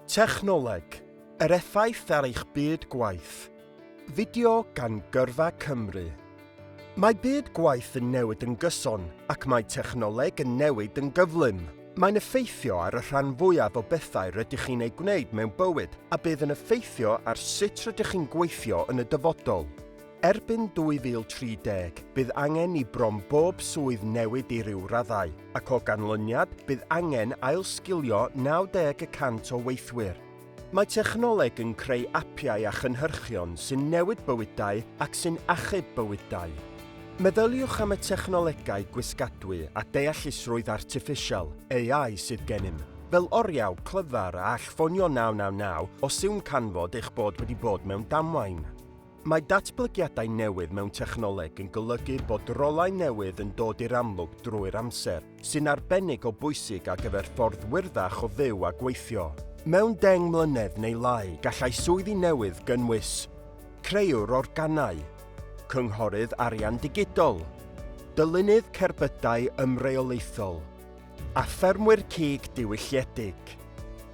Technoleg, yr effaith ar eich byd gwaith. Fideo gan Gyrfa Cymru. Mae byd gwaith yn newid yn gyson ac mae technoleg yn newid yn gyflym. Mae'n effeithio ar y rhan fwyaf o bethau rydych chi'n eu gwneud mewn bywyd a bydd yn effeithio ar sut rydych chi'n gweithio yn y dyfodol. Erbyn 2030, bydd angen i bron bob swydd newid i ryw raddau, ac o ganlyniad, bydd angen ailsgilio 90 y cant o weithwyr. Mae technoleg yn creu apiau a chynhyrchion sy'n newid bywydau ac sy'n achub bywydau. Meddyliwch am y technolegau gwisgadwy a deallusrwydd artiffisial, AI, sydd gennym, fel oriau clyfar a all ffonio 999 os yw'n canfod eich bod wedi bod mewn damwain. Mae datblygiadau newydd mewn technoleg yn golygu bod rolau newydd yn dod i'r amlwg drwy'r amser, sy'n arbennig o bwysig ar gyfer ffordd wyrddach o fyw a gweithio. Mewn deng mlynedd neu lai, gallai swyddi newydd gynnwys, Creuwr organau, Cynghorydd arian digidol, Dylunydd cerbydau ymreolaethol, a ffermwyr cig diwylliedig.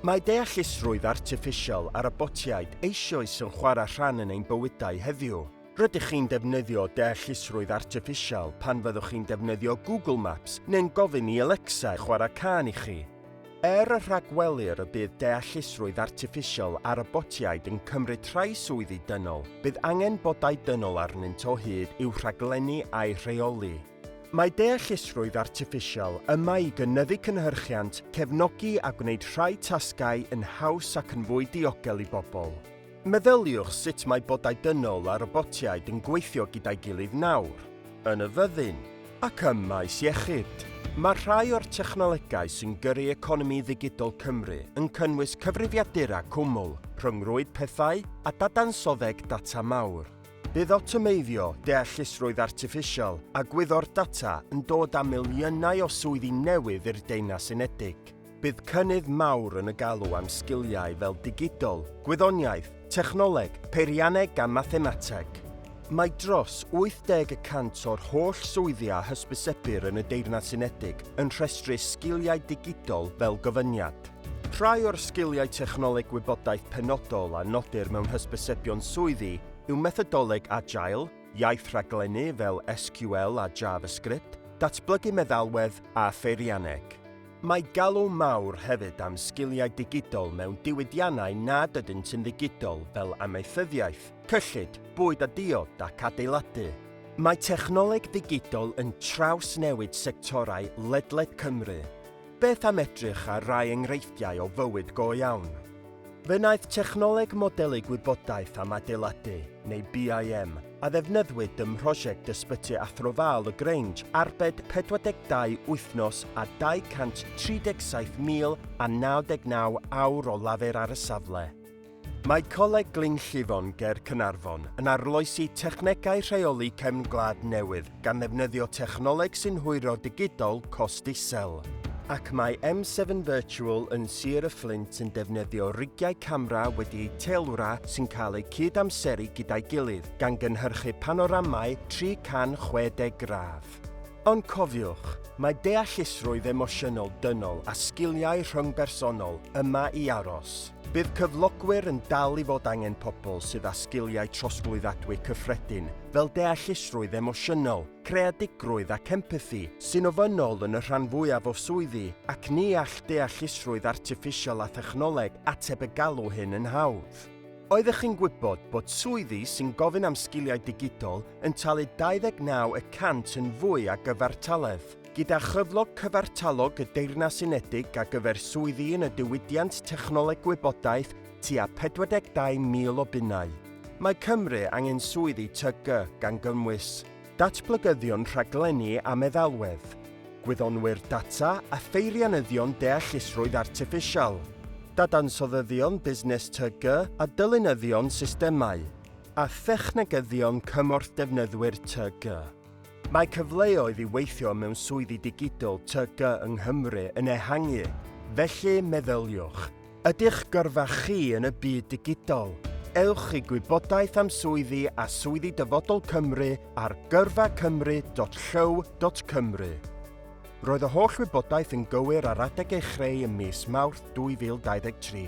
Mae deallusrwydd artiffisial a robotiaid eisioes yn chwarae rhan yn ein bywydau heddiw. Rydych chi'n defnyddio deallusrwydd artiffisial pan fyddwch chi'n defnyddio Google Maps neu'n gofyn i Alexa chwarae cân i chi. Er y rhagwelir y bydd deallusrwydd artiffisial a robotiaid yn cymryd rhai swyddi dynol, bydd angen bodau dynol arnynt o hyd i'w rhaglennu a'u rheoli. Mae deallusrwydd artiffisial yma i gynyddu cynhyrchiant, cefnogi a gwneud rhai tasgau yn haws ac yn fwy diogel i bobl. Meddyliwch sut mae bodau dynol a robotiaid yn gweithio gyda'i gilydd nawr, yn y fyddin, ac ym maes iechyd. Mae rhai o'r technolegau sy'n gyrru economi ddigidol Cymru yn cynnwys cyfrifiadura cwmwl, rhyngrwyd pethau a dadansoddeg data mawr. Bydd awtomeiddio, deallusrwydd artiffisial a gwyddor data yn dod â miliynau o swyddi newydd i'r Deyrnas Unedig. Bydd cynnydd mawr yn y galw am sgiliau fel digidol, gwyddoniaeth, technoleg, peirianneg a mathemateg. Mae dros 80 y cant o'r holl swyddi a hysbysebir yn y Deyrnas Unedig yn rhestru sgiliau digidol fel gofyniad. Rhai o'r sgiliau technoleg gwybodaeth penodol a nodir mewn hysbysebion swyddi yw methodoleg Agile, iaith rhaglennu fel SQL a JavaScript, datblygu meddalwedd a pheirianneg. Mae galw mawr hefyd am sgiliau digidol mewn diwydiannau nad ydynt yn ddigidol fel amaethyddiaeth, cyllid, bwyd a diod ac adeiladu. Mae technoleg ddigidol yn trawsnewid sectorau ledled Cymru. Beth am edrych ar rai enghreifftiau o fywyd go iawn? Fe wnaeth Technoleg Modelu Gwybodaeth am Adeiladu, neu BIM, a ddefnyddwyd ym mhrosiect Ysbyty Athro Val y Grange arbed 42 wythnos a 237,099 awr o lafur ar y safle. Mae Coleg Glyn Llifon ger Caernarfon yn arloesi technegau rheoli cefn gwlad newydd gan ddefnyddio technoleg sy'n hwyro digidol cost isel. Ac mae M7 Virtual yn Sir y Fflint yn defnyddio rigiau camera wedi eu teilwra sy'n cael eu cyd-amseru gyda'i gilydd, gan gynhyrchu panoramau 360 gradd. Ond cofiwch, mae deallusrwydd emosiynol dynol a sgiliau rhyngbersonol yma i aros. Bydd cyflogwyr yn dal i fod angen pobl sydd â sgiliau trosglwyddadwy cyffredin fel deallusrwydd emosiynol, creadigrwydd ac empathi, sy'n ofynnol yn y rhan fwyaf o swyddi, ac ni all deallusrwydd artiffisial a thechnoleg ateb y galw hyn yn hawdd. Oeddech chi'n gwybod bod swyddi sy'n gofyn am sgiliau digidol yn talu 29 y cant yn fwy a gyfartaledd. Gyda chyflog cyfartalog y Deyrnas Unedig a gyfer swyddi yn y diwydiant technoleg gwybodaeth tua 42,000 o bunnau. Mae Cymru angen swyddi TG gan gynnwys datblygyddion rhaglenni a meddalwedd, gwyddonwyr data a pheirianyddion deallusrwydd artiffisial, dadansoddyddion busnes TG a dylunyddion systemau. a thechnegyddion cymorth defnyddwyr TG. Mae cyfleoedd i weithio mewn swyddi digidol TG yng Nghymru yn ehangu, felly meddyliwch. Ydych gyrfa chi yn y byd digidol? Ewch i gwybodaeth am swyddi a swyddi Dyfodol Cymru ar gyrfacymru.llyw.cymru. Roedd y holl wybodaeth yn gywir ar adeg ei chreu ym mis Mawrth 2023.